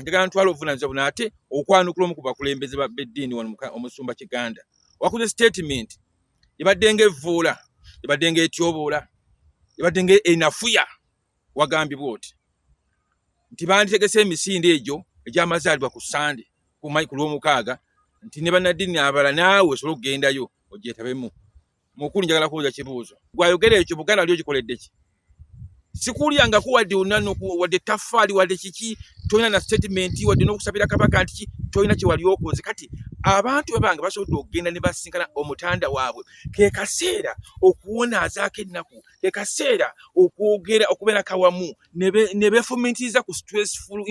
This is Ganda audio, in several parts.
njagala ntwala obuvunanyizibwa buno ate okwanukula omu ku bakulembeze ba beddiini wano omusumba kiganda wakuze statement ebadde nga evvuula ebadde nga etyoboola ebadde nga enafuya wagambibwa oti nti banditegese emisinde egyo egyamazaalibwa ku sande ku lwomukaaga nti ne bannaddiini abala naawe osobola okugendayo ogyetabemu Mukulu njagala kubuuza kibuuzo. Gwayogera ekyo Buganda wali ogikoledde ki? Sikulyangako wadde onano wadde taffaali wadde kiki tolina na statement wadde n'okusabira kabaka nti ki tolina kye wali okoze. Kati abantu bwe bange basobodde okugenda ne basinkana omutanda waabwe ke kaseera okuwonaazaako ennaku ke kaseera okwogera okubeera kawamu ne beefumiitiriza ku stressful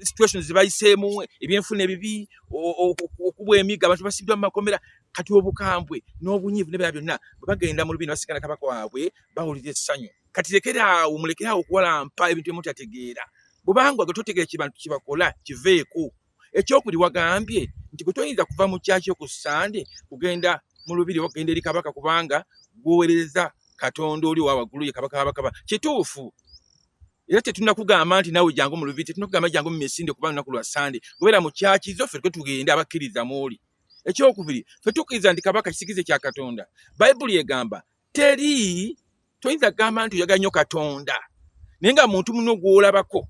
situations zibayiseemu ebyenfuna ebibi okubwa emiga abantu basibiddwa mu makomera kati obukambwe n'obunyiivu nebera byonna bwe bagenda mu lubina basigana kabaka waabwe bawulira essanyu kati lekeraawo mulekeraawo okuwalampa ebintu emutategeera bubanga gwe totegeera kibantu kibakola kiveeko ekyokuli wagambye nti gwe toyinza kuva mu kyakyo ku sande kugenda mu lubiri okugenda eri kabaka kubanga gwowereza katonda oli owa waggulu ye kabaka wabakaba kituufu era tetunakugamba nti nawe jangu mu lubiri tetunakugamba jangu mu misinde kuba lunaku lwa sande gobeera mu kyaki zo ffe twe tugende abakkiriza mwoli ekyokubiri ffe tukkiriza nti kabaka kisikize kya katonda bayibuli egamba teri toyinza kugamba nti oyaga nnyo katonda naye nga muntu muno gwolabako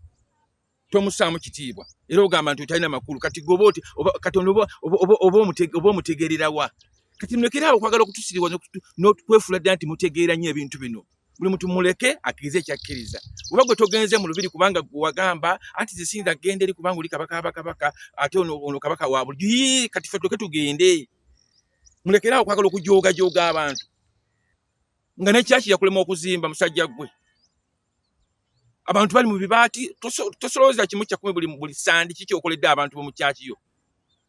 tomusaamu kitiibwa era ogamba nti otalina makulu kati goba oti katonda oba omutegererawa kati mulekere awo okwagala okutusiriwa nokwefuula ddala nti mutegeera nnyo ebintu bino buli muntu muleke akirize ekyakkiriza oba gwe togenze mu lubiri kubanga gwe wagamba anti zisiyinza genda eri kubanga oli kabaka bakabaka ate ono kabaka wa bulijo yii kati fe tuloke tugende mulekere awo okwagala okujoogajoga abantu nga nekyaki yakulema okuzimba musajja gwe abantu bali mu bibaati tosolooza kimu kyakumi buli sandi kiki okoledde abantu bomukyaki yo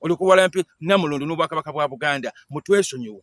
olikuwalampi namulundu n'obwakabaka bwa buganda mutwesonyiwe